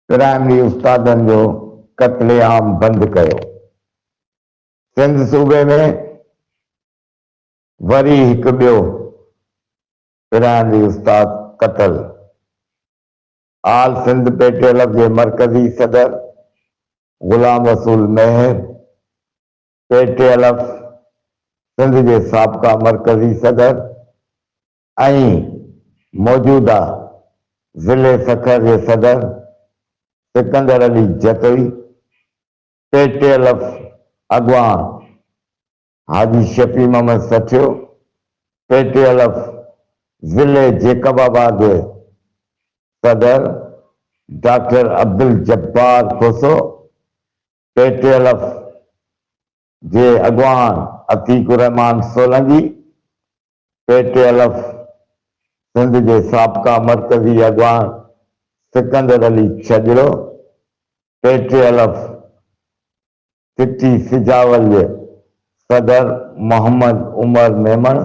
Primary استادن جو قتل عام بند ڪيو، سنڌ صوبي ۾ وري هڪ ٻيو پرائمري استاد قتل، all Sindh P T L F جي مرڪزي صدر Ghulam Rasool Mahar P T L F Sindh جي سابقا مرڪزي صدر ۽ موجوده ضلعي سکر جي صدر Sikandar Ali Jatoi, P T L F اڳواڻ Haji Shafi Muhammad Sathio, P T L F ضلعي جيڪب آباد جي صدر doctor Abdul Jabbar Khoso, P T L F جي اڳواڻ عتيق الرحمان Solangi, P T L F Sindh جي سابقا مرڪزي اڳواڻ Sikandar Ali Chhajro, P T L F city Sujawal جي صدر Muhammad Umar Memon,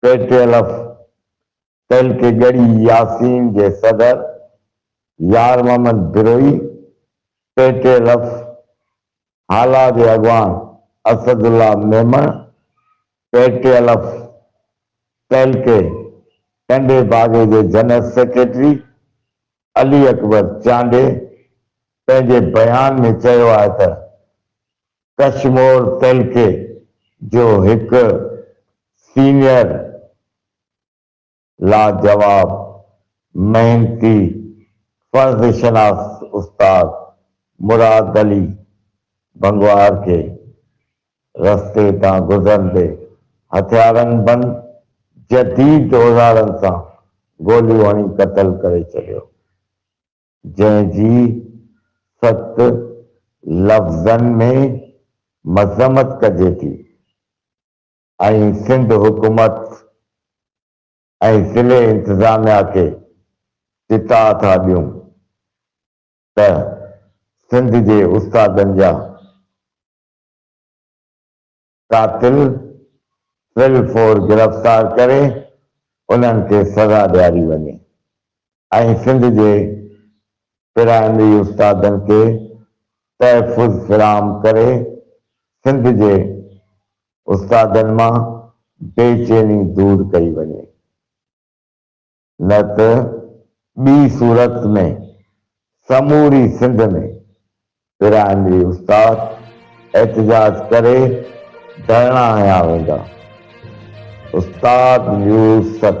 P T L F تنهن کي ڳڙهي ياسين جي صدر يار محمد بروهي، پي ٽي رف هالا جي اڳواڻ Asadullah Memon, P T الف تعلقي ٽنڊي باگي جي جنرل سيڪريٽري علي اڪبر چانڊي پنهنجي بيان ۾ چيو آهي ته ڪشمور تعلقي جو هڪ سينيئر لاجواب محنتي فرض شناس استاد مراد علي ڀنگوار کي رستي تان گذرندي هٿيارن بند جديد اوزارن سان گوليون هڻي قتل ڪري ڇڏيو جنهن جي سخت لفظن ۾ مذمت ڪجي ٿي ۽ سنڌ حڪومت ۽ ضلعي انتظاميا کي چتاء ٿا ڏيون ته سنڌ جي استادن جا قاتل فل فور گرفتار ڪري انهن کي سزا ڏياري وڃي ۽ سنڌ جي پرائمري استادن کي تحفظ فراهم ڪري سنڌ جي استادن مان بي چيني دور ڪئي وڃي. نه ته ٻي صورت ۾ سموري سنڌ ۾ پرائمري استاد احتجاج ڪري ڌرڻا هنيا ويندا. استاد نيوز ست.